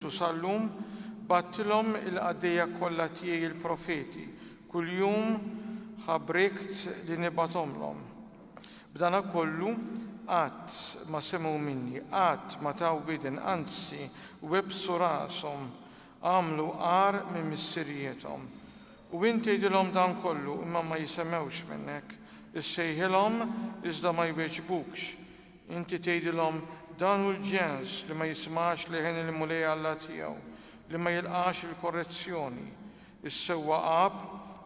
U sal-lum bgħattilhom il-qaddejja kollha tiegħi l-profeti, kuljum ħa brikt li nibgħathomlhom. B'dana kollu, qatt ma semgħu minni, qatt ma taw widen, anzi, webbsu rashom, għamlu agħar minn missiriethom. U int tgħidilhom dan kollu, imma ma jisemgħux minnek, issejħilhom, iżda ma jwieġbukx. Inti tgħidilhom, 'Dan hu l-ġens li ma jismax leħen il-Mulej Alla tiegħu, li ma jilqax il-korrezzjoni, is-sewwa għab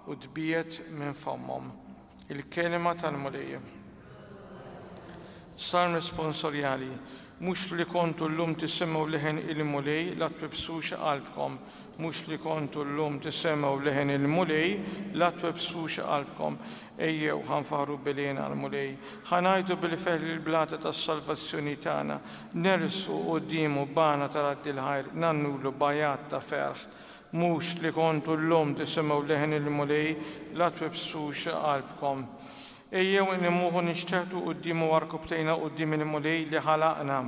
u tbiegħed minn fommhom. Il-Kelma tal-Mulej. Salm Responsorjali Mhux li kontu llum tisimgħu leħen il-Mulej, la twebbsux qalbkom. Mhux li kontu llum tisemgħu leħen il-Mulej, la twebbsux qalbkom. Ejjew, ħa nfaħħru b'għelien għall-Mulej, ħa ngħajtu bil-ferħ lill-Blata tas-salvazzjoni tagħna, nersqu quddiemu b'għana ta' raddi l-ħajr, ngħannulu b'għajat ta' ferħ. Mhux li kontu llum tisimgħu leħen il-Mulej, la twibbsux qalbkom. Ejjew inqimuh u nixteħtu quddiemu għarkubbtejna quddiem il-Mulej li ħalaqna,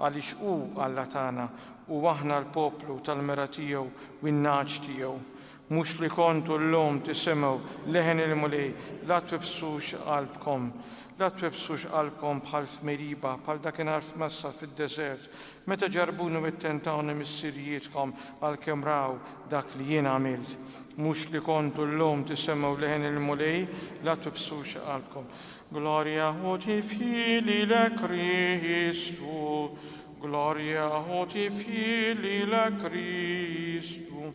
għaliex hu Alla tagħna, u aħna l-poplu tal-mira tiegħu u n-nagħaġ tiegħu. Mhux li kontu llum tisimgħu leħen il-Mulej, La twibbsux qalbkom. La twibbsux qalbkom bħal f'Meriba, bħal dakinhar f'Massa fid-deżert, meta ġarrbuni u ttentawni missirijietkom, għalkemm raw dak li jien għamilt. Mhux li kontu llum tisimgħu leħen il-Mulej, La twibbsux qalbkom. Glorja u tifħir lilek Kristu, Glorja u tifħir lilek Kristu.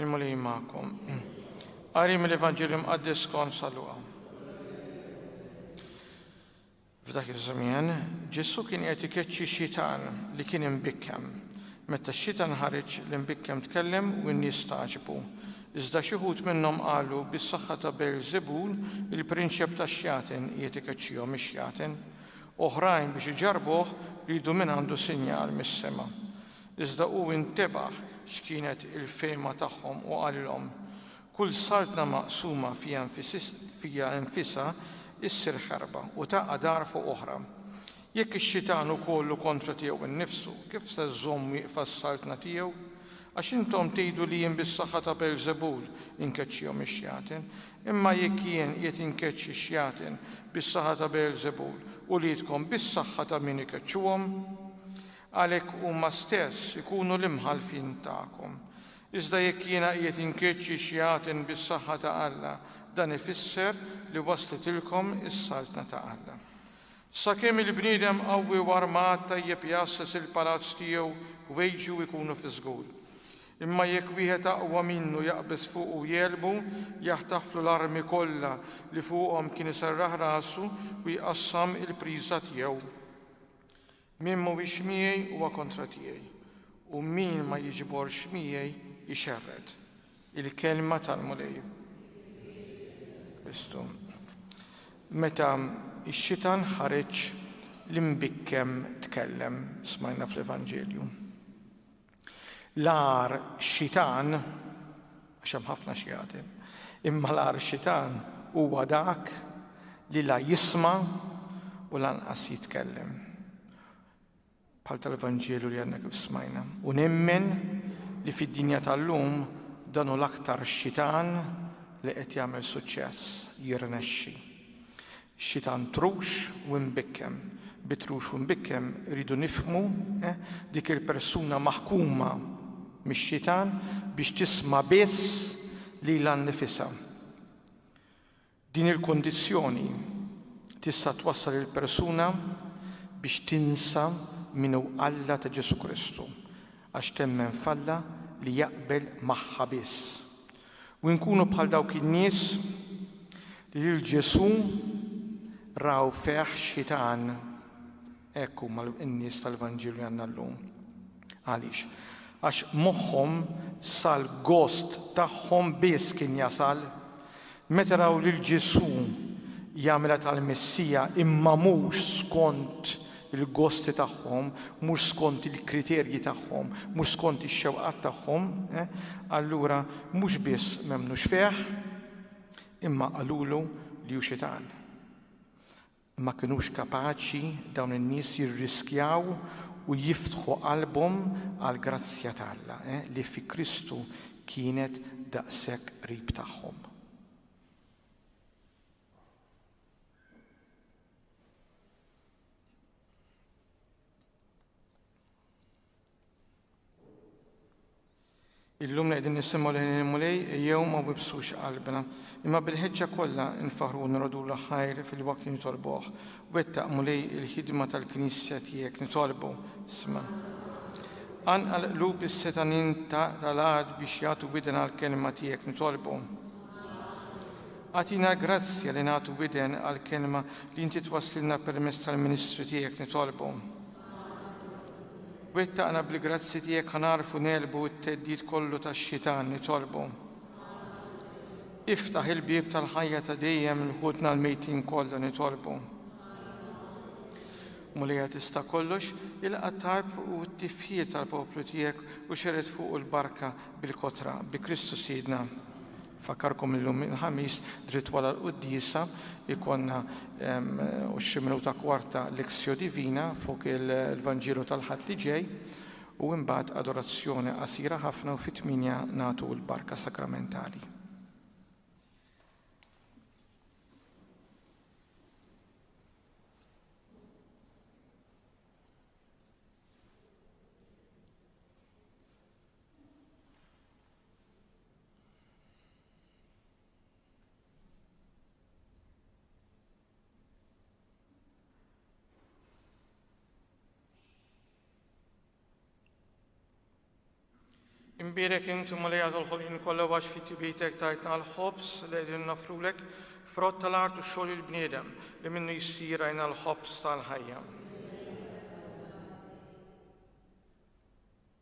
Imma li jimmakom. Għari mill-Evanġelju Mqaddis kont saluqa. F'dak iż-żmien, Ġesu kien qed ikeċċi xitan li kien imbikkem. Meta x-xitan ħareġ l-imbikkem tkellem u n-nies taġbu. Iżda xi ħut minnhom qalu bis-saħħa ta' Beelzebul il-prinċep tax-xjaten qiegħed ikeċċihom ix-xjaten. Oħrajn biex iġarbuh ridu minn għandu sinjal mis-sema. Iżda hu intebaħ x'kienet il-fehma tagħhom u qalilhom, Kull saltna maqsuma fiha nfisha ssir ħarba u taqa' dar fuq oħra. Jekk ix-xitan hu kollu kontra tiegħu nnifsu, kif se żżomm wieqfa s-saltna tiegħu? Għax intom tgħidu li jien bis-saħħa ta' Beelzebul inkeċċihom ix-xjaten. Imma jekk jien qiegħed inkeċċi x-xjaten bis-saħħa ta' Beelzebul, uliedkom bis-saħħa ta' min ikeċċuhom? Għalhekk huma stess ikunu l-imħallfin tagħkom. Iżda jekk jiena qiegħed inkeċċi xi għaten bis-saħħa ta' Alla, dan ifisser li waslitilkom is-Saltna ta' Alla. Sakemm il-bniedem qawwi u armat tajjeb jgħasses il-palazz tiegħu, ħwejġu jkunu fi żgur. Imma jekk wieħed aqwa minnu jaqbeż fuqu u jegħlbu, jaħtaflu l-armi kollha li fuqhom kien iserraħ rasu u jqassam il-priża tiegħu. Min mhuwiex miegħi huwa kontra tiegħi, u min ma jiġiborx miegħi jxerred. Il-kelma tal-Mulej. Kristu. Meta x-xitan ħareġ, l-imbikkem tkellem, smajna fl-Evanġelju. L-agħar xitan, għax hemm ħafna xjatin, imma l-agħar xitan huwa dak li la jisma' u lanqas jitkellem. Bħal tal-Evanġelu li għandna kif smajna. U nemmen li fid-dinja tal-lum dan u l-aktar xitan li qed jagħmel suċċess, jirnexxi. xitan trux u imbikkem. Bi trux u imbikkem irridu nifhmu dik il-persuna maħkuma mix-xitan biex tisma' biss lilha nnifisha. Din il-kundizzjoni tista' twassal lill-persuna biex tinsa min hu Alla ta' Ġesù Kristu għax temmen f'Alla li jaqbel magħha biss. U nkunu bħal dawk in-nies li lil Ġesù raw fih xitan. Hekk huma n-nies tal-Vanġelu li għandna llum. Għaliex? Għax moħħhom sal-gost tagħhom biss kien jasal meta raw lil Ġesù jagħmilha tal-Messija imma mhux skont il-gosti tagħhom, mhux skont il-kriterji tagħhom, mhux skont ix-xewqat tagħhom, allura mhux biss m'emmnux fih, imma qalulu li hu xitan. Ma kinux kapaċi dawn in-nies jirriskjaw u jiftħu qalbhom għall-grazzja ta' Alla li fi Kristu kienet daqshekk qrib tagħhom. Illum qegħdin nisimgħu lejn il-Mulej jew ma wibsux qalbna, imma bil-ħeġġa kollha nfaħru nrodu l-ħajr fil-waqt li nitolbuh. Wettaq Mulej il-ħidma tal-Knisja tiegħek nitolbu. Sma. Anqal qlub is-setanin tal-għad biex jagħtu widna l-kelma tiegħek nitolbu. Agħtina grazzja li nagħtu widen għall-kelma li inti twasslilna permezz tal-ministri tiegħek nitolbu. Wettaqna bil-grazzi tiegħek ħa nagħrfu negħlbu t-theddid kollu tax-xitan nitolbu. Iftaħ il-bieb tal-ħajja ta' dejjem l ħutna l-mejtin kollha nitolbu. Mulija tista' kollox, ilqa' tarb u t-tifħir tal-poplu tiegħek u xered fuqu l-barka bil-kotra bi Kristu Sidna. Nfakkarkom illum il-Ħamis dritt wara l-quddiesa jkollna u xi minuta kwarta Lectio Divina fuq il-Vanġelu tal-Ħadd li ġej u imbagħad adorazzjoni qasira ħafna u fit-tmienja nagħtu l-barka sakramentali. Imbirek inti ma li għadol ħolqin kollha għax fit tibitek tajtna l-ħobs li qegħdin nafrulek frott tal-art u xogħol il-bniedem li minnu jsir għajna l-ħobs tal-ħajja.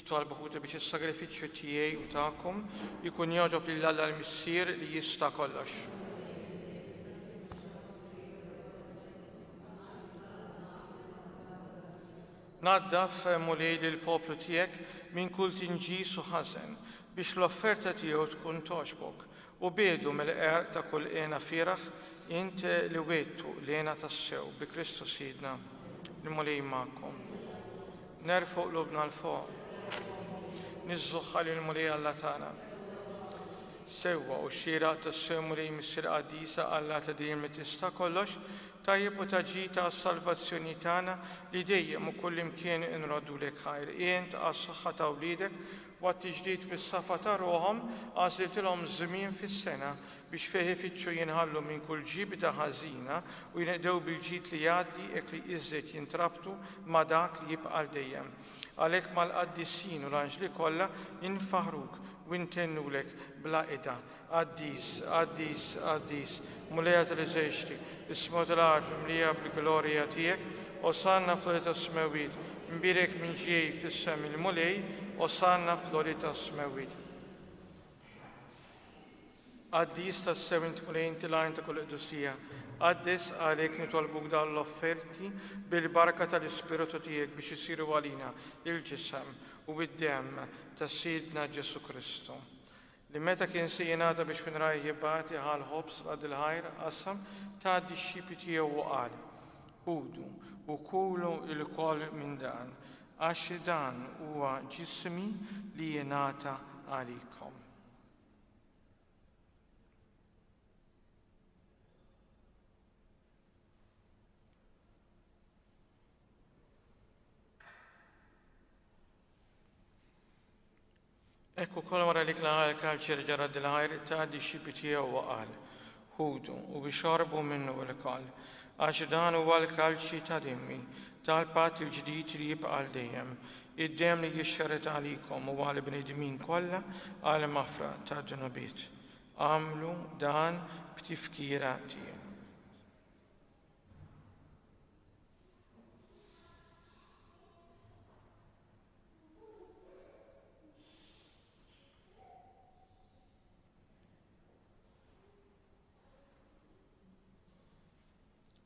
Jitolbu ħuti biex is-sagrifiċċju tiegħi u tagħkom jkun jogħġob lil Alla l-Missier li jista' kollox. Naddaf, O Mulej, lill-poplu tiegħek minn kull tinġis u ħażen, biex l-offerta tiegħu tkun togħġbok, u biegħdu mill-għerq ta' kull hena fieragħ, int li wegħdtu l-hena tassew bi Kristu Sidna. Il-Mulej magħkom. Nerfgħu qlubna 'l fuq. Niżżugħha lill-Mulej Alla tagħna. Sewwa u xieraq tassew Mulej Missier Qaddisa Alla ta' dejjem li tista' kollox, Tajjeb u ta' ġid għas-salvazzjoni tagħna li dejjem u kullimkien inroddulek ħajr. Int, għas-saħħa ta' wliedek u għat-tiġdid bis-safa ta' ruħhom, għażliltilhom żmien fis-sena biex fih ifittxu jinħallu minn kull ġibda ħażina u jinqdew bil-ġid li jgħaddi hekk li iżżed jintrabtu ma' dak li jibqa' għal dejjem. Għalhekk mal-qaddisin u l-anġli kollha infaħruk u ntennulek bla qida. Qaddis, qaddis, qaddis, Mulejja tal-eżerċti, isma' tal-art mimlija bil-glorja tiegħek, Osanna fl-għoli tas-smewwiet, imbierek min ġej f'isem il-Mulej, Osanna fl-għoli tas-smewwiet. Qaddis, tassew int Mulej, int il-għajn ta' kull qdusija. Qaddes, għalhekk nitolbuk dawn l-offerti bil-barka tal-Ispirtu tiegħek biex isiru għalina il-ġisem u d-demm ta' Sidna Ġesù Kristu. Li meta kien se jingħata biex fin rajh jibgħati ħa l-ħobż f'qadd il-ħajr, qassam, ta d-dixxipli tiegħu u qal, Ħudu u kulu ilkoll minn dan, għax dan huwa ġismi li jingħata għalikom. Hekk ukoll wara li tla' għall-karċeri ġara dil-għajr ta' dixxipli tiegħu u qal, Ħudu u ixorbu minnu ilkoll, għax dan huwa l-kalċi ta' demmi tal-patt il-ġdid li jibqa' għal dejjem, id-demm li jixxerred għalikom u għall-bnedmin kollha għall-maħfra tad-dnubiet. Agħmlu dan b'tifkira tiegħi.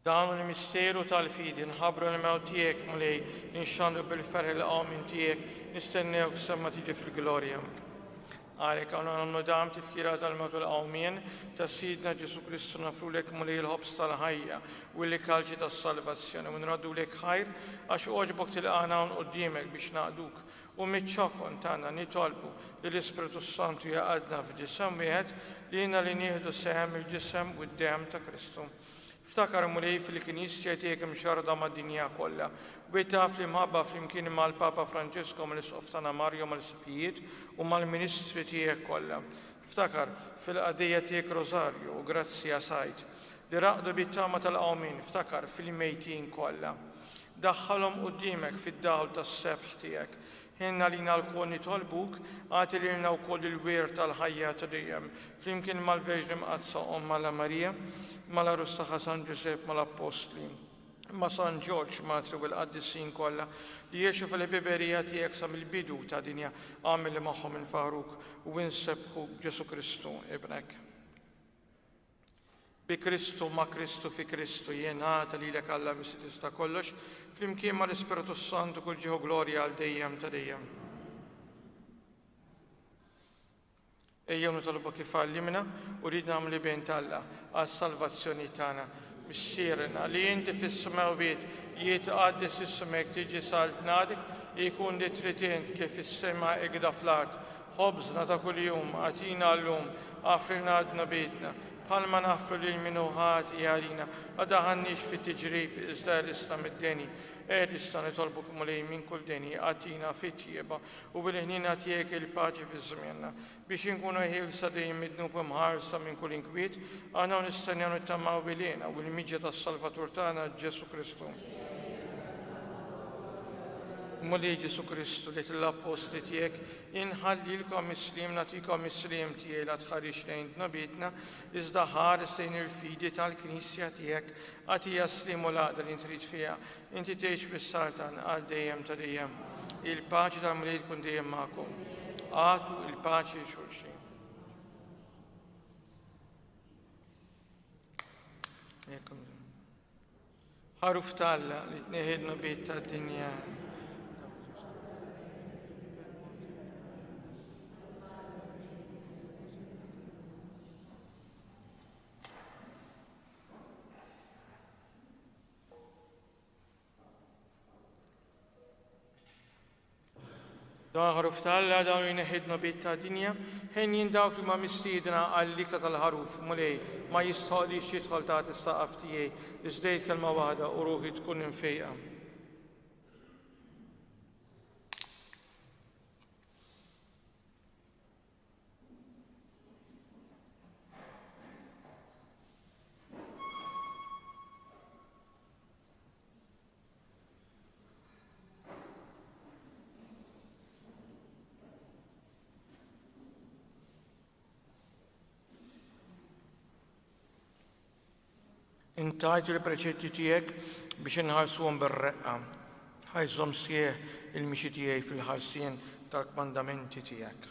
Dan hu l-misteru tal-fidi, nħabru l-mew tiegħek mulej, ninxandu bil-ferħ il-qawmin tiegħek, nistennew semma tiġi fil-glorja. Għalhekk għandna nagħmlu dan b'tifkira tal-mewt u l-qawmien ta' Sidna Ġesù Kristu, nofrulek Mulej il-ħobż tal-ħajja u l-ikalċi tas-salvazzjoni u nraddulek ħajr għax għoġbok tilqagħna hawn quddiemek biex naqduk, u miċ-ċokon tagħna nitolbu li l-Ispirtu s-Santu jgħaqqadna f'ġisem wieħed lilna li nieħdu sehem mill-ġisem u d-demm ta' Kristu. Ftakar Mulej f'li kien jisċed jekk imxarrda mad-dinja kollha. Wiet taf li mħabba flimkien mal-Papa Franġesku mal-Isqof tagħna Mario mal-Isqfijiet u mal-Ministri tiegħek kollha. Ftakar fil-qaddejja tiegħek Rosario u Grazia Said li raqdu bit-tama tal-qawmien ftakar fil-mejtin kollha. Daħħalhom quddiemek fid-dawl tas-sebħ tiegħek. Ħin għalina lkoll nitolbuk, agħti lilna wkoll il-wirt tal-ħajja ta' dejjem, flimkien mal-Verġni Mqaddsa Ommha La Marija, mal-Għarus tagħha San Ġużepp, mal-Appostli, ma' San Ġorġ, Matri u l-Qaddisin kollha li għexu fil-ħbiberija tiegħek sa mill-bidu ta' dinja, agħmel li magħhom infaħruk u insebbħuk b'Ġesù Kristu, Ibnek. Bi Kristu, ma' Kristu, fi Kristu, jingħata lilek Alla Missi Tista' Kollox, flimkien mal-Ispirtu s-Santu kull ġieħ u glorja għal dejjem ta' dejjem. Ejjew nitolbok kif għallimna u rid nagħmlu bejn t'Alla għas-salvazzjoni tagħna. Missierna, li inti fis-smewwiet, jitqaddes ismek, tiġi saltnatik, ikun li trid int, kif fis-sema hekk da fl-art. Ħobżna ta' kuljum agħtina llum, aghfirna għal dnubietna, bħalma naghfru lil min hu ħati għalina. Ma daħalnix fi tiġrib, iżda għelisna mid-deni. Għelisna nitolbuk, Mulej, minn kull deni, agħtina fit-tjieba u bil-ħniena tiegħek il-paċi fi żmienna, biex inkunu ħielsa dejjem mid-dnub u mħarsa minn kull inkwiet, aħna u nistennew nittamaw bil-hena u l-miġja tas-Salvatur tagħna Ġesù Kristu. Mulej Ġesù Kristu, li għedt lill-appostli tiegħek, Inħallilkom is-sliem, nagħtikom is-sliem tiegħi, la tħarisx lejn dnubietna, iżda ħares lejn il-fidi tal-Knisja tiegħek, agħtiha s-sliem u l-għaqda li trid fiha. Inti tgħix fis-Saltan għal dejjem ta' dejjem. Il-paċi tal-Mulej tkun dejjem magħkom. Agħtu l-paċi lil xulxin. Jekk Għaruf t'Alla li tneħħi d-dnubiet tad-dinja. Dan il-Ħaruf ta' Alla dan u jneħħi d-dnobiet tad-dinja. Ħin jien dawk li huma mistiedna għall-ikla tal-Ħaruf, Mulej, ma jistħoqqlix jidħol taħt is-saqaf tiegħi, iżda għid kelma waħda u ruħi tkun imfejqa. Intajt il-preċetti tiegħek biex inħarsuhom bir-reqqa. Ħajżhom sieħ il-mixi tiegħi fil-ħarsien tal-kmandamenti tiegħek.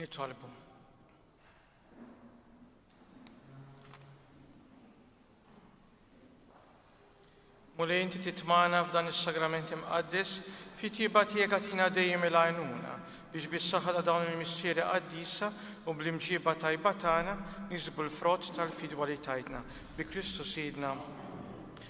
Nitolbu. Mulej inti titmana f'dan is-sagrament imqaddes fi tieba tiegħek għatina dejjem il-għajnuna biex bis-saħħa ta' dawn il-mistieri qaddisa u bl-imġiba tajba tagħna nisbu l-frott tal-fidwa li tajtna bi Kristu Sidna.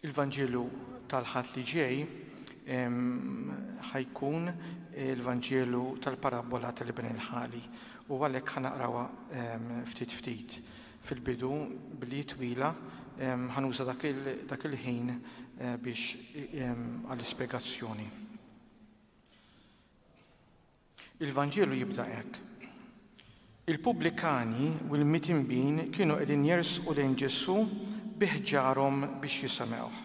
Il-Vanġelu tal-Ħadd li ġej ħa jkun il-Vanġelu tal-parabbola tal-Iben il-Ħali u għalhekk ħa naqrawha ftit ftit. Fil-bidu, bliet twila, ħa nuża dak il-ħin biex għall-ispjegazzjoni. Il-Vanġelu jibda hekk, Il-pubblikani u l-mitinbin kienu qegħdin jersqu lejn Ġesù bi ħġarhom biex jisemgħuh.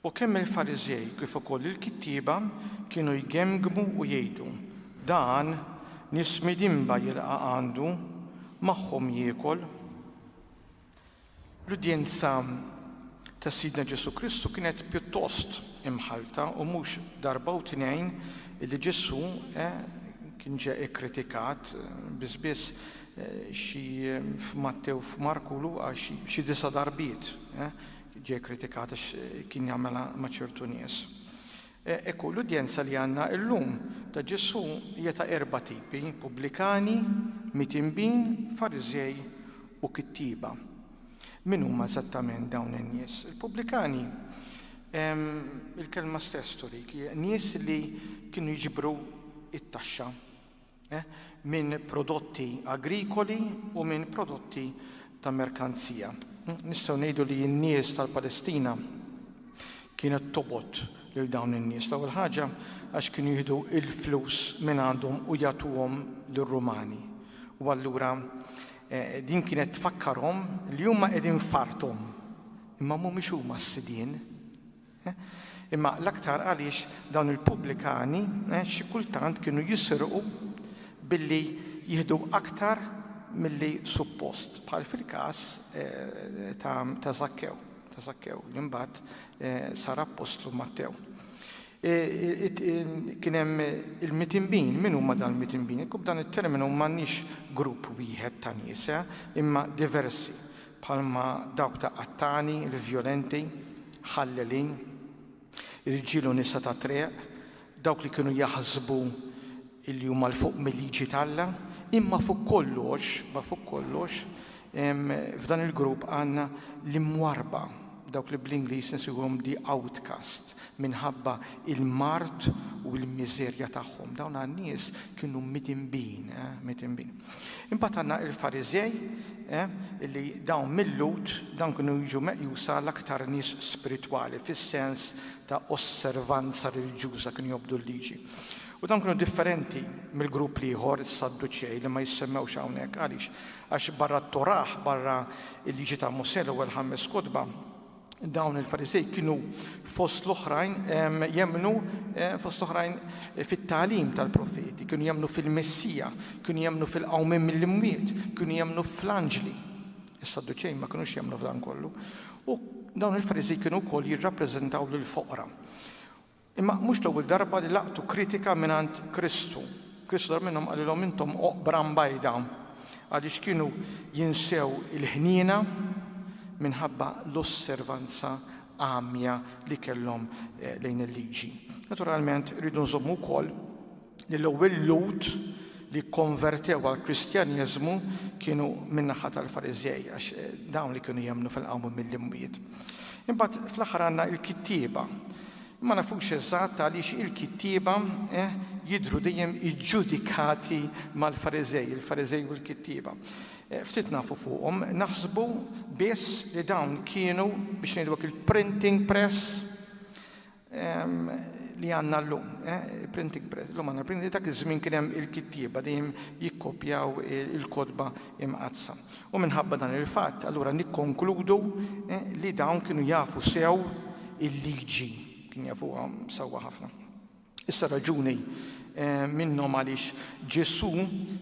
U kemm il-Fariżej kif ukoll il-kittieba kienu jgemmgmu u jgħidu, Dan, nies midinba jilqa' għandu, magħhom jiekol. L-udjenza ta' Sidna Ġesù Kristu kienet pjuttost imħallta u mhux darba u tnejn li Ġesù kien ġie ikkritikat, biss biss xi f'Mattew, f'Marku u Luqa xi disa' darbiet ġie ikkritikat għax kien jagħmilha ma' ċertu nies. Hekk hu, l-udjenza li għandna llum ta' Ġesù hija ta' erba' tipi, pubblikani, mitinbin, Fariżej, u kittieba. Min huma eżattament dawn in-nies? Il-pubblikani, il-kelma stess turik, nies li kienu jiġbru t-taxxa. minn prodotti agrikoli u minn prodotti ta' merkanzija. Nistgħu ngħidu li n-nies tal-Palestina kienet tobot lil dawn in-nies l-ewwel ħaġa għax kienu jieħdu l-flus minn għandhom u jagħtuhom lir-Rumani. U allura eh, din kienet tfakkarhom li huma qegħdin farthom imma mhumiex huma s-sidien. Imma l-aktar għaliex dawn il-pubblikani xi kultant kienu jisirqu billi jieħdu aktar milli suppost, bħal fil-każ ta' Żakkew, ta' Żakkew li mbagħad sar appostlu Mattew. Kien hemm il-mitinbin, min huma dawn il-mitinbin? Kub dan it-terminu m'għandniex grupp wieħed ta' nies, imma diversi. bħalma dawk ta' qattani, l-vjolenti, ħallelin, irġiel u nisa tat-triq, dawk li kienu jaħsbu li huma 'l fuq mil-liġi t'Alla, imma fuq kollox, ma fuq kollox, f'dan il-grupp għandna l-imwarrba, dawk li bl-Ingliż insejħuhom the outcast, minħabba l-mard u l-miżerja tagħhom. Dawn għan-nies kienu midinbin, midinbin. Imbagħad għandna il-Fariżej, illi dawn mil-Lhud, dawn kienu jiġu meqjusa l-aktar nies spiritwali fis-sens ta' osservanza reliġjuża, kienu jobdu l-Liġi. U dawn kienu differenti mill-grupp l-ieħor, is-Sadduċej, li ma jissemmewx hawnhekk. Għaliex? Għax barra t-Torah, barra l-Liġi ta' Mosè, l-ewwel ħames kotba, Dawn il-Farisej kienu fost l-oħrajn jemmnu fost l-oħrajn fit-tagħlim tal-profeti, kienu jemmnu fil-Messija, kienu jemmnu fil-qawmim mill-imwiet, kienu jemmnu fl-anġli. Is-Sadduċej ma kinux jemmnu f'dan kollu. U dawn il-Farisej kienu wkoll jirrappreżentaw lill-foqra. Imma mhux l-ewwel darba li laqtu kritika mingħand Kristu. Kristu darba minnhom qalilhom intom oqbra mbajda għaliex kienu jinsew il-ħniena minħabba l-osservanza għamja li kellhom lejn il-Liġi. Naturalment irridu nżommu wkoll li l-ewwel Lhud li kkonvertew għall-Kristjaneżmu kienu min-naħa tal-Fariżej għax dawn li kienu jemmnu fil-qawmien mill-imwiet. Imbagħad fl-aħħar għandna l-kittieba. Ma nafux eżatt għaliex il-kittieba eh, jidhru dejjem iġġudikati mal-Fariżej, il-Fariżej u l-kittieba. Eh, ftit nafu fuqhom, naħsbu biss li dawn kienu biex ngħidwek il-printing press li għandna llum, printing press, llum għandna printing dak iż-żmien kien hemm il-kittieba dejjem jikkopjaw il-kotba imqaddsa. U minħabba dan il-fatt, allura nikkonkludu li dawn kienu jafu sew il-liġi, kien jafuha sewwa ħafna. Issa raġuni minnhom għaliex Ġesù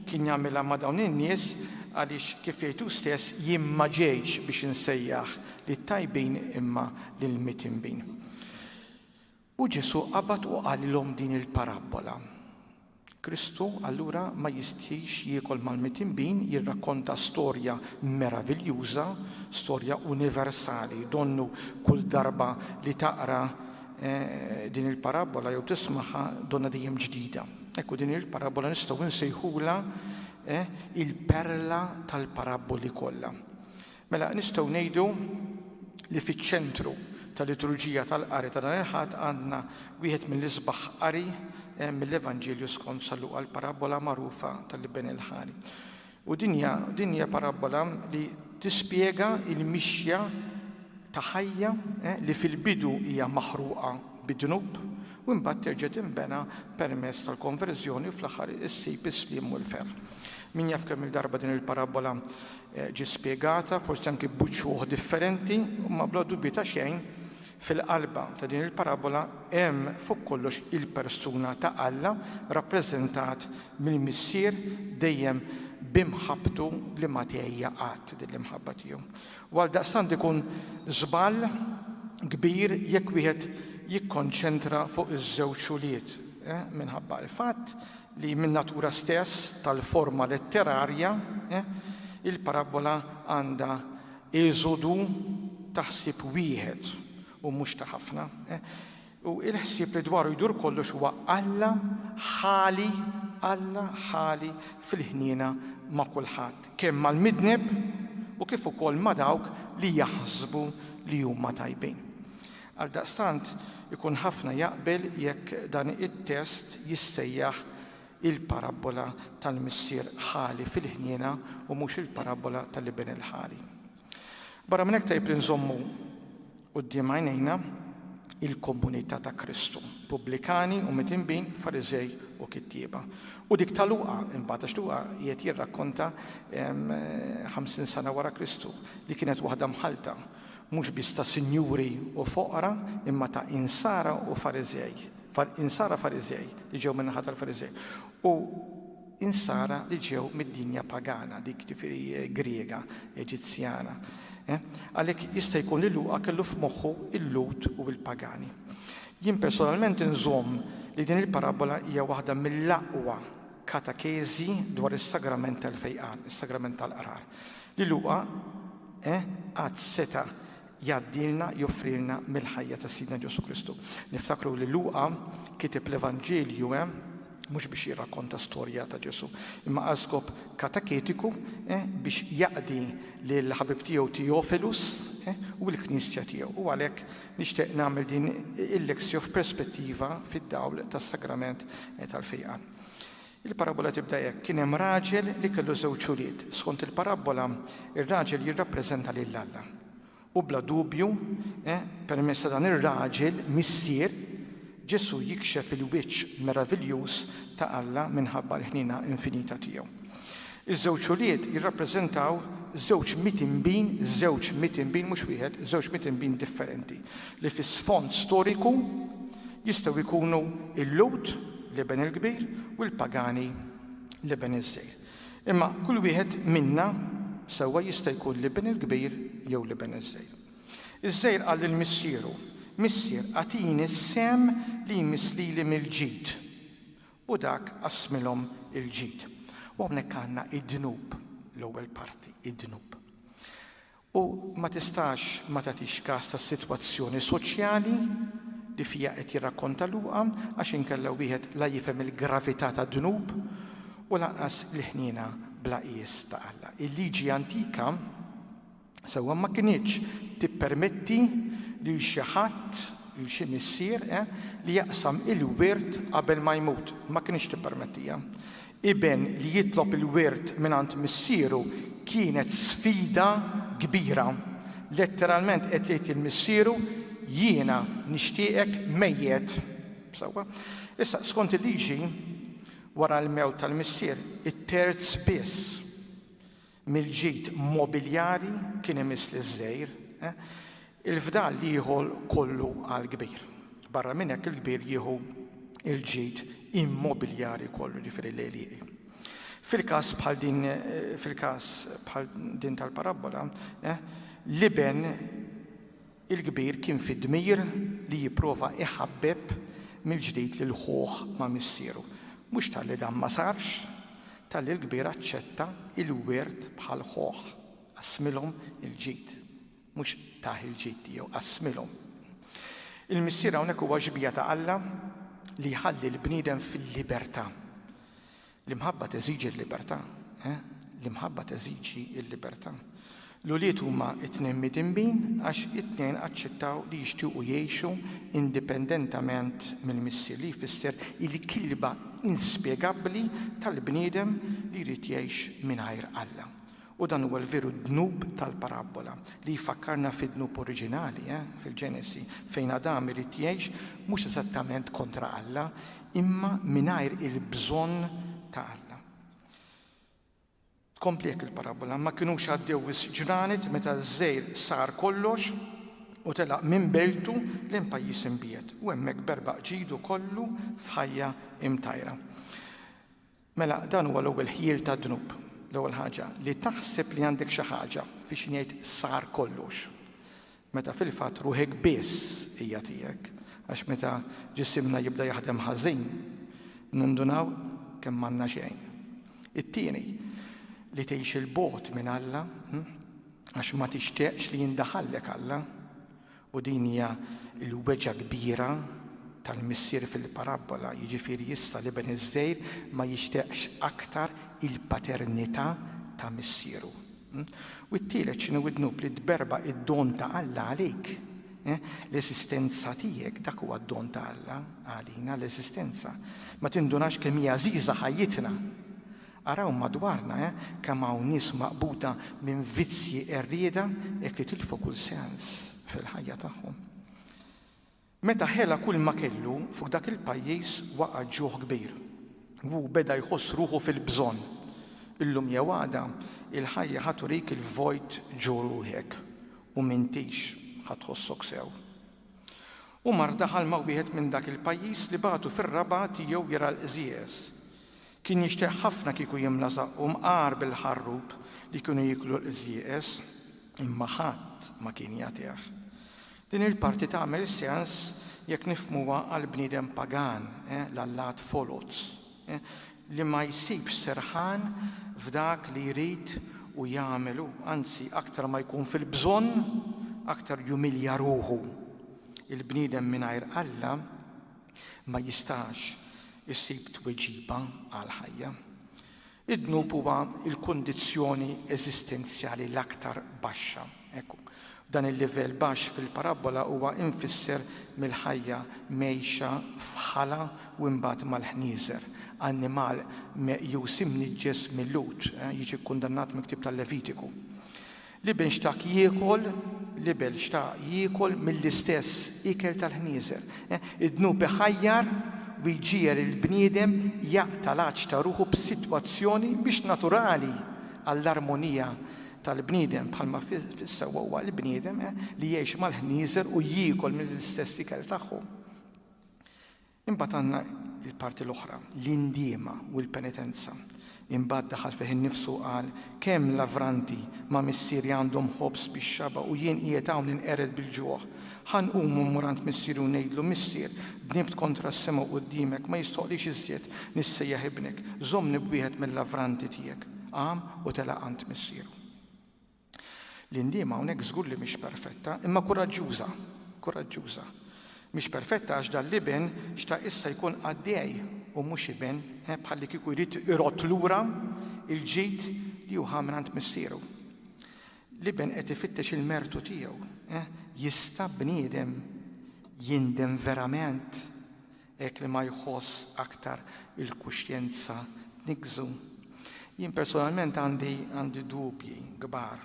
kien jagħmilha ma' dawn in-nies għaliex kif jgħidu stess jien ma ġejtx biex insejjaħ Lit-tajbin imma lill-mitinbin. U Ġesù qabad u qalilhom din il-parabbola. Kristu allura ma jistħix jiekol mal-mitinbin, jirrakkonta storja meraviljuża, storja universali. Donnu kull darba li taqra din il-parabbola jew tismagħha donna dejjem ġdida. Ekku din il-parabbola nistgħu nsejħulha il-perla tal-parabboli kollha. Mela, nistgħu ngħidu li fiċ-ċentru tal-liturġija tal-qari ta' dan il-Ħadd għandna wieħed mill-isbaħ qari mill-Evanġelju skont San Luqa l-parabbola magħrufa tal-Iben il-Ħali. U din hija din hija parabbola li tispjega l-mixja ta' ħajja li fil-bidu hija maħruqa bid-dnub u mbagħad terġa' tinbena permezz tal-konverżjoni u fl-aħħar issib is-sliem u l-ferħ. Min jaf kemm il-darba din il-parabbola ġiet spjegata, forsi anki b'uċuħ differenti, imma bla dubju ta' xejn fil-qalba ta' din il-parabola hemm fuq kollox il-persuna ta' Alla rappreżentat mill-Missier dejjem b'imħabbtu li ma tgħejja qatt din l-imħabba tiegħu. U għaldaqstant ikun żball kbir jekk wieħed jikkonċentra fuq iż-żewġ ulied, eh, minħabba l-fatt li min-natura stess tal-forma letterarja, il-parabbola għandha eżodu ta' ħsieb wieħed u mhux ta' ħafna, u l-ħsieb li dwaru jdur kollox huwa Alla ħali, Alla ħali fil-ħniena ma' kulħadd, kemm mal-midneb u kif ukoll ma' dawk li jaħsbu li huma tajbin. Għaldaqstant, ikun ħafna jaqbel jekk dan it-test jissejjaħ il-parabbola tal-missier ħali fil-ħniena u mhux il-parabbola tal-iben il-ħali. Barra minn hekk tajjeb li nżommu quddiem għajnejna il-komunità ta' Kristu, pubblikani u mitinbin, Fariżej u kittieba. U dik ta' Luqa, imbagħad għax Luqa qiegħed jirrakkonta 50 sena wara Kristu li kienet waħda mħallta mhux biss ta' sinjuri u foqra, imma ta' insara u Fariżej, insara Fariżej li ġew min-naħa tal-Fariżej, u insara li ġew mid-dinja pagana, dik ġifieri Griega, Eġizzjana. Eh? Għalhekk jista' jkun li Luqa kellu f'moħħu l-Lhud u l-pagani. Jien personalment inżomm li din il-parabbola hija waħda mill-aqwa katakeżi dwar is-sagrament tal-fejqan, is-sagrament tal-qrar. Li Luqa, eh, qatt seta' jgħaddilna, joffrilna mill-ħajja ta' Sidna Ġesù Kristu. Niftakru li Luqa kiteb l-Evanġelju, eh, mhux biex jirrakkonta storja ta' Ġesù, imma għal skop kataketiku, eh, biex jaqdi lill-ħabib tiegħu Theophilus, eh, u l-Knisja tiegħu. U għalhekk nixtieq nagħmel din il-lexio f'perspettiva fid-dawl tas-Sagrament tal-Fejqan. Il-parabbola tibda hekk, Kien hemm raġel li kellu żewġ ulied. Skont il-parabbola, ir-raġel jirrappreżenta lil Alla. U bla dubju, permezz ta' dan ir-raġel, missier, Ġesù jikxef il-wiċċ meraviljuż ta' Alla minħabba l-ħniena infinita tiegħu. Iż-żewġ ulied jirrappreżentaw żewġ miet inbin, żewġ miet inbin, mhux wieħed, żewġ miet inbin differenti, li fi sfond storiku jistgħu jkunu l-Lhud, l-Iben il-Kbir, u l-pagani, l-Iben iż-Żgħir. Imma kull wieħed minna sewwa jista' jkun l-Iben il-Kbir jew l-Iben iż-Żgħir. Iż-Żgħir qal lil missieru, Missier, agħtini s-sehem li jmiss lili mill-ġid. U dak qassmilhom il-ġid. U hawnhekk għandna id-dnub, l-ewwel parti, id-dnub. U ma tistax ma tagħtix kas tas-sitwazzjoni soċjali li fiha qed jirrakkonta Luqa għax inkella wieħed la jifhem il-gravità tad-dnub u lanqas il-ħniena bla qies ta' Alla. Il-Liġi antika, sewwa ma kinitx tippermetti lil xi ħadd, lil xi missier, li jaqsam il-wirt qabel ma jmut. Ma kinitx tippermettiha. Iben li jitlob il-wirt mingħand missieru kienet sfida kbira. Letteralment qed jgħid lil missieru, Jiena nixtieqek mejjet. Sewwa? Issa, skont il-liġi, wara l-mewt tal-missier, it-terz biss, mill-ġid mobiljari kien imiss liż-żgħir, il-fdal jieħu kollu għall-kbir. Barra minn hekk il-kbir jieħu l-ġid immobiljari kollu, ġifieri l-għelieqi. Fil-każ bħal din fil-każ bħal din tal-parabbola, l-iben Il-kbir kien fi dmir li jipprova iħabbeb mill-ġdid lil ħuh ma' missieru. Mhux talli dan ma sarx, talli l-kbir aċċetta il-wirt bħal ħuh, qassmilhom il-ġid. Mhux tah il-ġid tiegħu, qassmilhom. Il-missier hawnhekk huwa xbieha ta' Alla li jħalli l-bniedem fil-libertà. L-imħabba teżiġi l-libertà, eh, l-imħabba teżiġi l-libertà. L-ulied huma t-tnejn midinbin għax it-tnejn aċċettaw li jixtiequ jgħixu indipendentament mill-missier, li jfisser il-kilba inspjegabbli tal-bniedem li jrid jgħix mingħajr Alla. U dan huwa l-veru dnub tal-parabbola, li jfakkarna fid-dnub oriġinali, fil-Ġenesi, fejn Adam irid jgħix mhux eżattament kontra Alla, imma mingħajr il-bżonn ta' Alla. Tkompli hekk il-parabbola, Ma kinux għaddew wisq ġranet meta ż-żgħir sar kollox u telaq minn bejtu lejn pajjiż imbiegħed, u hemmhekk berbaq ġidu kollu f'ħajja mtajra. Mela dan huwa l-ewwel ħjiel tad-dnub, l-ewwel ħaġa, li taħseb li għandek xi ħaġa fi xi ngħid sar kollox, meta fil-fatt ruħek biss hija tiegħek, għax meta ġisimna jibda jaħdem ħażin, nindunaw kemm m'għandna xejn. It-tieni, li tgħix 'il bogħod minn Alla, għax ma tixtieqx li jindaħallek Alla, U din hija l-weġgħa kbira tal-missier fil-parabbola, jiġifieri issa l-iben iż-żgħir ma jixtieqx aktar il-paternità ta' missieru. U t-tielet x'inhu d-dnub li tberba' d-don ta' Alla għalik. L-eżistenza tiegħek dak huwa d-don ta' Alla għalina l-eżistenza. Ma tindunax kemm hija għażiża ħajjitna. Araw madwarna, eh, kemm hawn nies maqbuda minn vizzji qerrieda hekk li tilfu kull sens fil-ħajja tagħhom. Meta ħela kulma kellu, fuq dak il-pajjiż waqa' ġuħ kbir u hu beda jħoss ruħu fil-bżonn. Illum jew għada, il-ħajja ħa turik il-vojt ġo ruħek u m'intix ħa tħossok sew. Umar daħal ma' wieħed minn dak il-pajjiż li bagħtu fir-raba' tiegħu jara l-qżież. Kien jixtieq ħafna kieku jimla żaqqu mqar bil-ħarrub li kienu jieklu l-qżieqeż, imma ħadd ma kien jagħtih. Din il-parti tagħmel sens jekk nifhmuha għall-bniedem pagan, l-allat foloz, li ma jsibx serħan f'dak li jrid u jagħmel hu, anzi aktar ma jkun fil-bżonn, aktar jumilja ruħu. Il-bniedem mingħajr Alla, ma jistax isib tweġiba għall-ħajja. Id-dnub huwa l-kundizzjoni eżistenzjali l-aktar baxxa. Hekk dan il-livell baxx fil-parabbola huwa imfisser mill-ħajja mgħejxa f'ħala u imbagħad mal-ħnieżer, annimal meqjus imniġġes mil-Lhud, jiġi kkundannat mill-ktieb tal-Levitiku. L-iben xtaq jiekol, l-iben xtaq jiekol mill-istess ikel tal-ħnieżer. Id-dnub iħajjar u jġiegħel lill-bniedem jaqta' l-għatx ta' ruħu b'sitwazzjoni mhix naturali għall-armonija tal-bniedem, bħalma fis-sewwa huwa l-bniedem li jgħix mal-ħnieżer u jiekol mill-istess ikel tagħhom. Imbagħad għandna l-parti l-oħra, l-indiema u l-penitenza. Imbagħad daħal fih innifsu u qal, Kemm lavranti ma' missieri għandhom ħobż bix-xaba' u jien qiegħed hawn ninqered bil-ġuħ! Ħa nqum u mmur għand missieri u ngħidlu, 'Missier, dnibt kontra s-sema u quddiemek, ma jistħoqqlix iżjed nissejjaħ ibnek. Żommni b'wieħed mil-lavranti tiegħek. Qam u telaq għand missieru. L-indiema hawnhekk żgur li mhix perfetta, imma kuraġġuża, kuraġġuża. Mhix perfetta għax dan l-iben xtaq issa jkun qaddej u mhux iben, bħalli kieku jrid irodd lura l-ġid li hu ħa mingħand missieru. L-iben qed ifittex il-mertu tiegħu. Jista' bniedem jindem verament? hekk li ma jħoss aktar il-kuxjenza tniggżu. Jien personalment għandi għandi dubji kbar.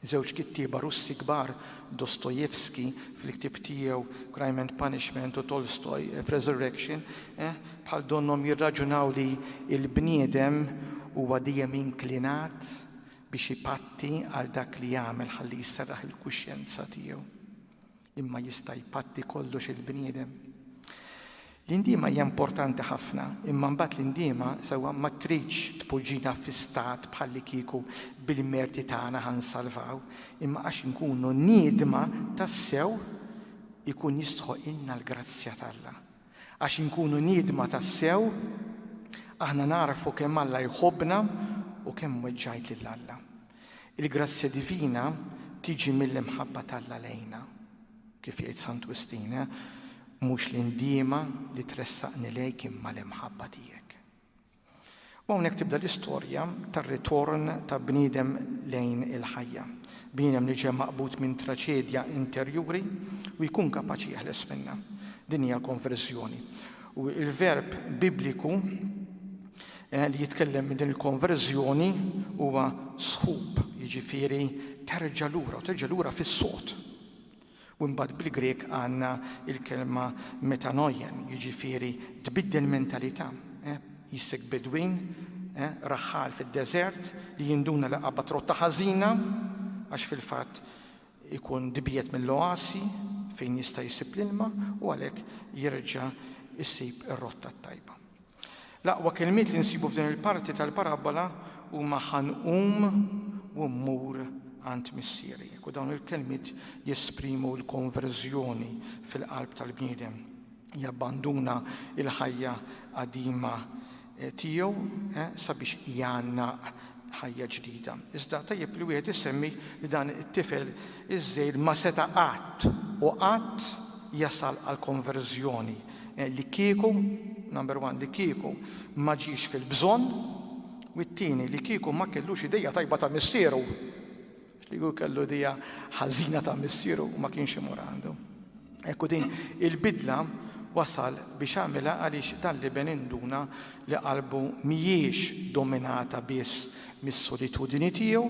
Żewġ kittieba Russi kbar, Dostoevsky fil-ktieb tiegħu Crime and Punishment u Tolstoy f'Resurrection, eh, bħal donnhom jirraġunaw li l-bniedem huwa dejjem inklinat biex ipatti għal dak li jagħmel ħalli jserraħ il-kuxjenza tiegħu. Imma jista' jpatti kollox il-bniedem? L-indiema hija importanti ħafna, imma mbagħad l-indiema sewwa ma tridx tpoġġina fi stat bħallikieku bil-merti tagħna ħa nsalvaw, imma għax inkunu niedma tassew ikun jistħoqilna l-grazzja t'Alla. Għax inkunu niedma tassew, aħna nagħrfu kemm Alla jħobbna u kemm weġġajt lil Alla. Il-grazzja divina tiġi mill-imħabba t'Alla lejna. Kif jgħid Sant Wistin, Mhux l-indiema li tressaqni lejk imma l-imħabba tiegħek. U hawnhekk tibda l-istorja tar-ritorn ta' bniedem lejn il-ħajja, bniedem li ġie maqbud minn traċedja interjuri u jkun kapaċi jeħles minnha. Din hija l-konverżjoni. U l-verb Bibliku Li jitkellem minn din il-konverżjoni huwa sħub, jiġifieri terġa' lura u terġa' lura fis-sod. U mbagħad bil-Grieg għandna l-kelma metanoien, jiġifieri tbiddel mentalità. Jissek bedwin, raħħal fid-deżert, li jinduna li qabad rotta ħażina, għax fil-fatt ikun dibiet mill-oasi fejn jista' jsib l-ilma u għalhekk jerġa' jsib ir-rotta t-tajba. L-aqwa kelmiet li nsibu f'din il-parti tal-parabbola huma ħa nqum u mmur għand missieri, u dawn il-kelmiet jesprimu l-konverżjoni fil-qalb tal-bniedem. Jabbanduna l-ħajja qadima eh, tiegħu eh, sabiex jgħannaq ħajja ġdida. Iżda tajjeb li wieħed isemmi li dan it-tifel iż-żgħir ma seta' qatt u qatt jasal għall-konverżjoni li kieku, number one, li kieku ma ġiex fil-bżonn, u t-tieni li kieku ma kellux idea tajba ta' missieru. Xligu kellu idea ħażina ta' missieru u ma kienx imur għandu. Hekk u din il-bidla wasal biex għamilha għaliex dan l-iben induna li qalbu mhijiex dominata biss mis-solitudini tiegħu,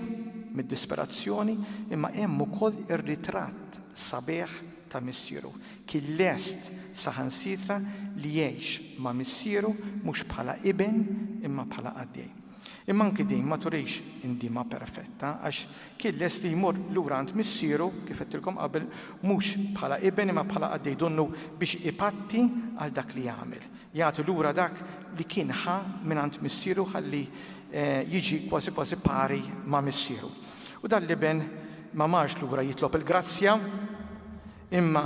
mid-disperazzjoni, imma hemm ukoll ir-ritratt sabiħ ta' missieru. Kien lest saħansitra li jgħix ma' missieru mhux bħala iben imma bħala qaddej. Imma anki din ma turix indiema perfetta, għax kien lest li jmur lura għand missieru, kif għedtilkom qabel, mhux bħala iben imma bħala qaddej donnu biex ipatti għal dak li għamel, jagħti lura dak li kien ħa mingħand missieru ħalli jiġi kważi kważi pari ma' missieru. U dan l-iben ma marx lura jitlob il-grazzja, imma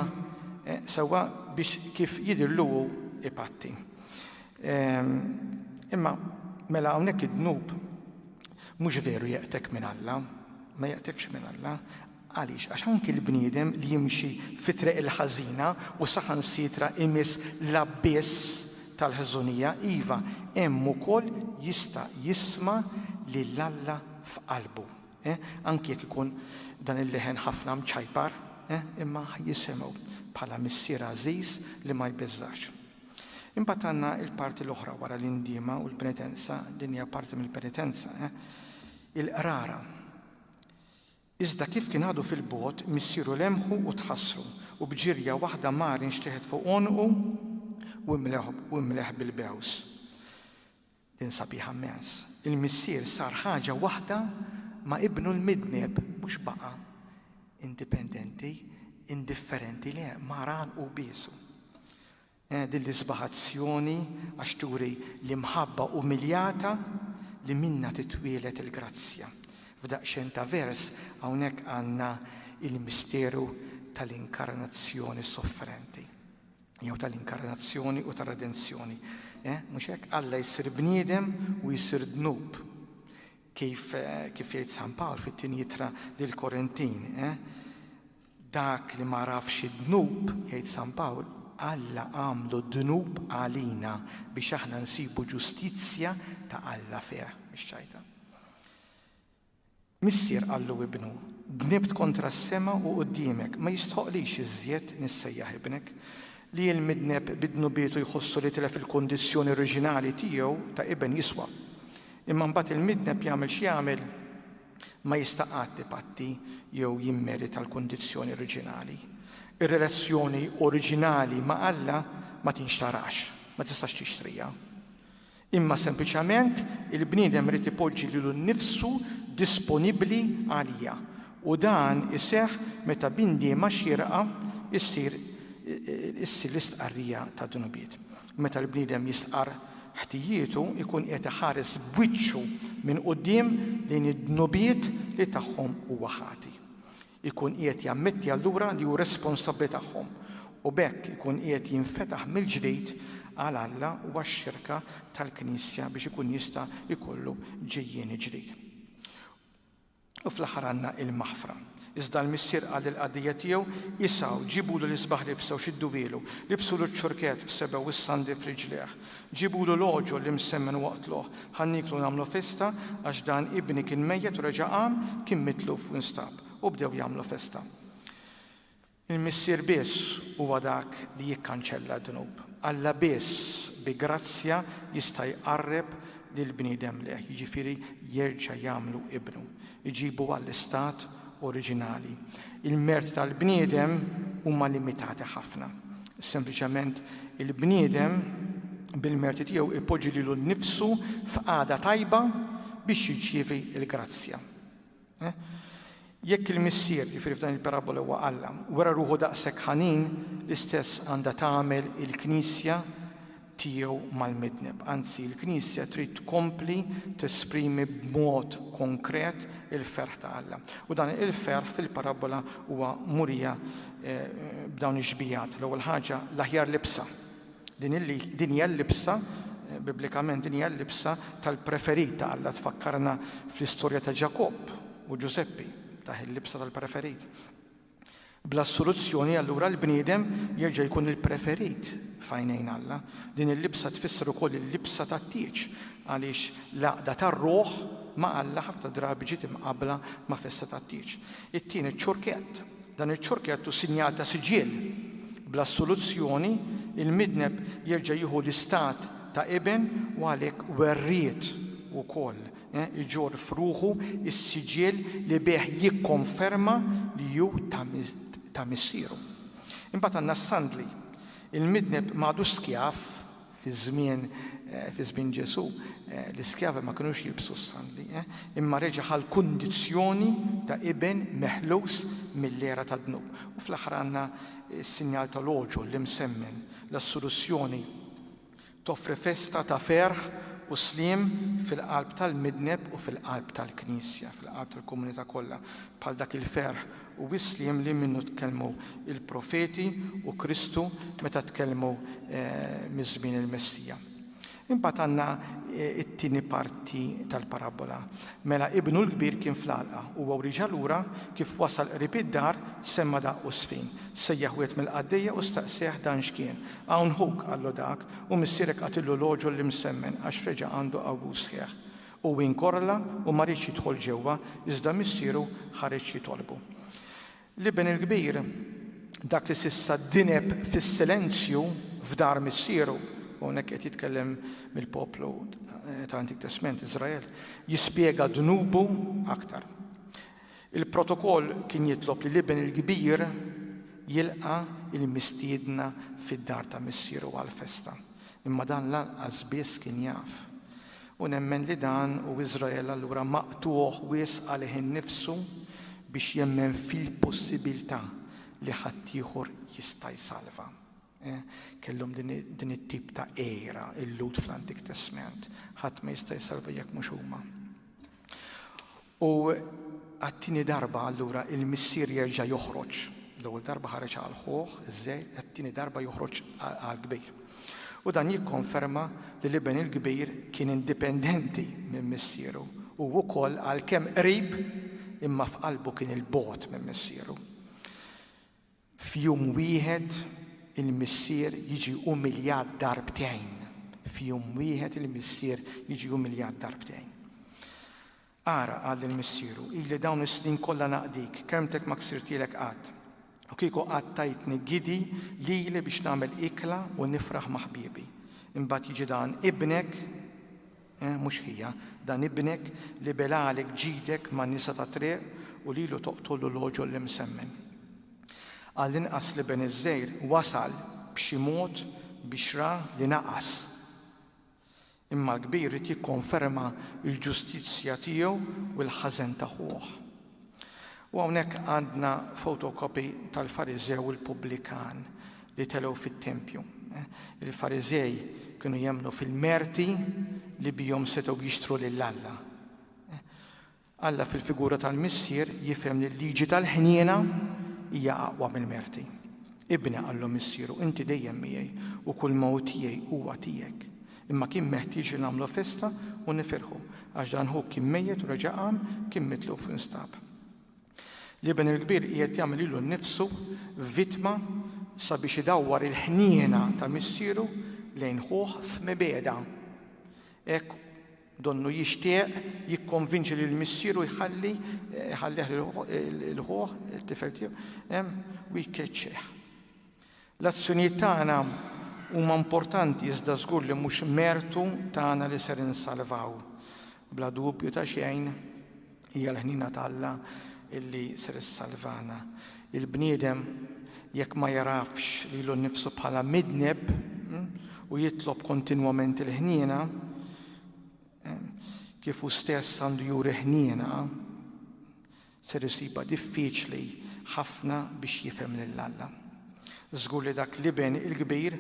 sewwa biex kif jidhirlu hu ipatti. Ehm, imma mela hawnhekk id-dnub mhux veru jeqtek minn Alla, ma jeqtekx minn Alla. Għaliex? Għax anki l-bniedem li jimxi fit-triq il-ħażina u saħansitra imiss l-abbiss tal-ħżunija, iva, hemm ukoll jista' jisma' lil Alla f'qalbu. Eh? Anki jekk ikun dan il-leħen ħafna mċajpar, eh? imma ħa jisimgħu bħala Missier għażiż li ma jbeżżax. Imbagħad għandna l-parti l-oħra wara l-indiema u l-penitenza, din hija parti mill-penitenza, eh? il-qrara. Iżda kif kien għadu fil-bogħod, missieru lemħu u tħassru, u b'ġirja waħda mar inxteħet fuq għonqu u imleħ bil-bews. Din sabiħa mmens. Il-Missier sar ħaġa waħda ma' Ibnu l-midneb, mhux baqa' indipendenti, indifferenti, le, mar għal hu biesu. Eh, din l-isbaħ azzjoni għax turi l-imħabba umiljata li minna titwielet il-grazzja. F'daqxen ta' vers hawnhekk għandna il-misteru tal-inkarnazzjoni sofferenti. jew tal-inkarnazzjoni u tar-redenzjoni. Eh, mhux hekk Alla jsir bniedem u jsir dnub. Kif eh, kif jgħid San Pawl fit-tieni jitra lil Korintin, eh? Dak li ma rafx id-dnub, jgħid San Pawl, Alla għamlu dnub għalina biex aħna nsibu ġustizzja ta' Alla fih, biex ċajta. Missier qallu ibnu, Dnibt kontra s-sema u quddiemek, ma jistħoqqlix iżjed nissejjaħ ibnek. Li l-midneb bi dnubietu jħossu li tilef il-kundizzjoni oriġinali tiegħu ta' iben jiswa. Imma mbagħad il-midneb jagħmel x'jagħmel, ma jista' qatt ipatti jew jimmerita l-kundizzjoni oriġinali. Ir-relazzjoni oriġinali ma' Alla ma tinxtarax, ma tistax tixtriha. imma sempliċement il-bniedem irid ipoġġi lilu nnifsu disponibbli għalija, u dan iseħħ meta b'indiema xierqa ssir issir l-istqarrija tad-dnubiet. Meta l-bniedem jistqarr ħtijietu jkun qiegħed iħares b'wiċċu minn quddiem lejn id-dnubiet li tagħhom huwa ħati. Ikun qiegħed jammetti allura li hu responsabbli tagħhom, u b'hekk ikun qiegħed jinfetaħ mill-ġdid għal Alla u għax-xirka tal-Knisja biex ikun jista' jkollu ġejjieni ġdid. U fl-aħħar għandna il-maħfra. Iżda l-missier qal il-qaddejja tiegħu, Isgħu, ġibulu l-isbaħ libsa u xidduhielu, libsulu ċ-ċurkett f'sebgħu u s-sandli f'riġlieh. Ġibulu l-għoġol li msemmen waqtluh, ħa nieklu u nagħmlu festa, għax dan ibni kien mejjet u reġa' qam, kien mitluf u nstab. U bdew jagħmlu festa. Il-Missier biss huwa dak li jikkanċella d-dnub. Alla biss bi grazzja jista' jqarreb lill-bniedem lejh, jiġifieri jerġa' jagħmlu ibnu. jġibu għall-istat oriġinali. Il-merti tal-bniedem huma limitati ħafna. Sempliċement il-bniedem bil-merti tiegħu jpoġġi lilu nnifsu f'qagħda tajba biex jirċievi l-grazzja. Eh? Jekk il-missier, jiġifieri f'dan il-parabola huwa Alla, wera ruħu daqshekk ħanin, l-istess għandha tagħmel il-Knisja tiegħu mal-midneb. Anzi, l-Knisja trid tkompli tesprimi b'mod konkret il-ferħ ta' Alla. U dan il-ferħ fil-parabbola huwa murija b'dawn ix-xbijat. L-ewwel ħaġa, l-aħjar libsa. Din hija l-libsa biblikament din hija l-libsa tal-preferit ta' Alla tfakkarna fl-istorja ta' Ġakobb u Ġużeppi, taħ il-libsa tal-preferit. Bl-assoluzzjoni, allura, l-bniedem jerġa' jkun il-preferit f'għajnejn Alla. Din il-libsa tfisser ukoll il-libsa tat-tieġ, għaliex l-għaqda tar-ruħ ma' Alla ħafna drabi ġiet imqabbla ma' festa tat-tieġ. It-tieni, ċ-ċurkett. Dan iċ-ċurkett hu sinjal ta' siġill. Bl-assoluzzjoni, il-midneb jerġa' jieħu l-istat ta' iben u għalhekk werriet ukoll iġorr f'ruħu s-siġill li bih jikkonferma li hu ta' missieru. Imbagħad għandna s-sandli. Il-midneb ma għadux skjav fi żmien fi żmien Ġesù l-iskjavi ma kinux jilbsu s-sandli, imma reġa' ħa l-kundizzjoni ta' iben meħlus mill-għera tad-dnub. U fl-aħħar għandna s-sinjal tal-għoġol, l-imsemmen, l-assurissjoni. Toffri festa ta' ferħ u sliem fil-qalb tal-midneb u fil-qalb tal-Knisja, fil-qalb tal-komunità kollha, bħal dak il-ferħ u s-sliem li minnu tkellmu l-profeti u Kristu meta tkellmu miż-żmien il-Messija. Imbagħad għandna t-tieni parti tal-parabbola. Mela ibnu l-kbir kien fl-għalqa. Huwa wrieġa lura, kif wasal qrib id-dar, semma' daqq u żfin. Sejjaħ wieħed mill-qaddejja u staqsieh dan x'kien. Hawn ħuk, qallu dak, u missierek qatillu l-għoġol li msemmen għax reġa' għandu qawwus sħiħ. U inkorrla u ma riedx jidħol ġewwa, iżda missieru ħareġ jitolbu. L-iben il-kbir, dak li s'issa dineb fis-silenzju f'dar missieru, u hawnhekk qed jitkellem mill-poplu tal-Antik Testment, Iżrael, jispjega dnubu aktar. Il-protokoll kien jitlob li l-iben il-kbir jilqa' l-mistiedna fid-dar ta' missieru għall-festa, imma dan lanqas biss kien jaf. U nemmen li dan u Iżrael allura maqtugħ wisq għalih innifsu biex jemmen fil-possibiltà li ħaddieħor jista' jsalva. Eh, kellhom din it-tip ta' għira il-Lhud fl-Antik Testment. Ħadd ma jista' jsalva jekk mhux huma. U għat-tieni darba allura il-missier jerġa' joħroġ. L-ewwel darba ħareġ għal ħuh, iż-żgħir, it-tieni darba joħroġ għall-kbir. U dan jikkonferma li l-iben il-kbir kien indipendenti minn missieru u wkoll għalkemm qrib imma f'qalbu kien 'il bogħod minn missieru. F'jum wieħed il-missier jiġi umiljat darbtejn. F'jum wieħed il-missier jiġi umiljat darbtejn. Ara, qal lil missieru, ili dawn is-snin kollha naqdik, kermtek ma ksirtilek qatt. U kieku qatt tajtni gidi lili biex nagħmel ikla u nifraħ ma' ħbiebi. Imbagħad jiġi dan ibnek Eh, mhux hija, dan ibnek li bela għalek ġidek ma' nisa ta' triq u lilu toqtollu l-għoġol l-imsemmen. Għall-inqas li ben iż-żgħir wasal b'xi mod biex ra li naqas. Imma l-kbir irid jikkonferma l-ġustizzja tiegħu u l-ħażen ta' ħuh. U hawnhekk għandna photocopy tal-Fariżew u l-pubblikan li telgħu fit-tempju. Il-Fariżej kienu jemmnu fil-merti li bihom setgħu jixtru lil Alla. Alla fil-figura tal-missier jifhem li l-liġi tal-ħniena hija aqwa mill-merti. Ibni qallu missieru, inti dejjem miegħi u kull mewt tiegħi huwa tiegħek. Imma kien meħtieġ li nagħmlu festa u nifirħu, għax dan ħuk kien mejjet u reġa' qam, kien mitluf u nstab. L-Iben il-Kbir qiegħed jagħmel lilu nnifsu vittma sabiex idawwar il-ħniena ta' Missieru lejn Ħuh f'mibegħda. Hekk donnu jixtieq jikkonvinċi lil Missieru jħalli jħallih lil Ħuh, it-tifel tiegħu, u jkeċċih. L-azzjonijiet tagħna huma importanti iżda żgur li mhux mertu tagħna li ser insalvaw. Bla dubju ta' xejn, hija l-ħniena t'Alla li ser issalvana. Il-bniedem jekk ma jagħrafx lilu nnifsu bħala midneb u jitlob kontinwament il-ħniena, kif hu stess għandu juri ħniena, ser isibha diffiċli ħafna biex jifhem lil Alla. Żgur li dak l-iben il-kbir,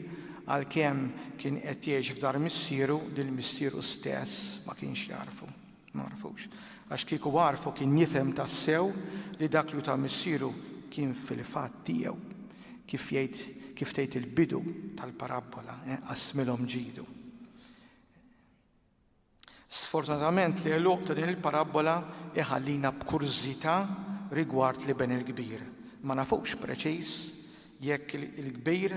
għalkemm kien qed jgħix f'dar missieru, lil missieru stess ma kienx jagħrfu. Ma għarfux. Għax kieku għarfu kien jifhem tassew li dak li ta' missieru kien fil-fatt tiegħu. Kif jgħid kif tgħid il-bidu tal-parabbola, eh, qasmilhom ġidu. Sfortunatament l-għeluq ta' din il-parabbola jħallina b'kurżità rigward l-Iben il-Kbir. Ma nafux preċiż jekk il-kbir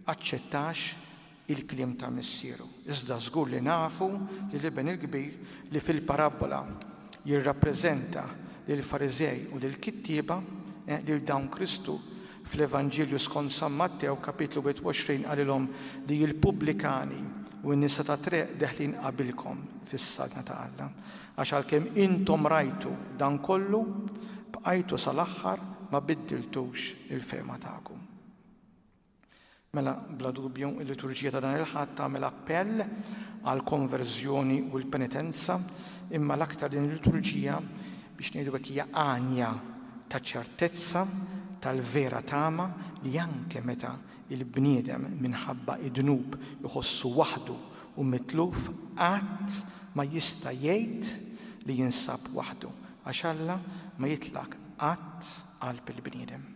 aċċettax il-kliem ta' missieru. Iżda żgur li nafu li l-Iben il-Kbir li fil-parabbola jirrappreżenta lill-Fariżej u lill-kittieba, lil dawn Kristu Fl-Evanġelju skont San Mattew, kapitlu 21, qalilhom li l-pubblikani u n-nisa tat-triq deħlin qabilkom fis-Saltna ta' Alla, għax għalkemm intom rajtu dan kollu, bqajtu sal-aħħar ma biddiltux il-fehma tagħkom. Mela, bla dubju, il-liturġija ta' dan il-Ħadd tagħmel appell għall-konverżjoni u l-penitenza, imma l-aktar din il-liturġija, biex ngħidu hekk, hija għanja ta' ċertezza tal-vera tama li anke meta l-bniedem minħabba d-dnub iħossu waħdu u mitluf, qatt ma jista' jgħid li jinsab waħdu, għax Alla ma jitlaq qatt qalb il-bniedem.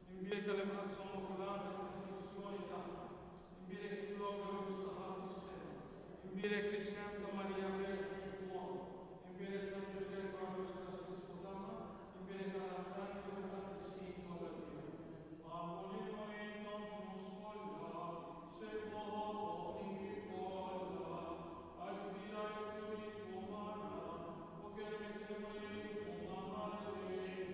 Imbierek għall-imħabba immakulata tal-Proċessjoni tagħha, imbierek it-turab ġeneruż tagħha fis-sema, imbierek l-isem ta' Marija Verġni kif hu hawn, imbierek San Ġużepp Karlus Erastus Sputana, imbierek Anna Franz u l-Qaddissin kollha tiegħek. Fallu li ma intomx ħuss kollha, sirħu obbligi kollha, għax bila jitfdilikom Alla, u kelmet il-Mulej tkun għamala dejjem.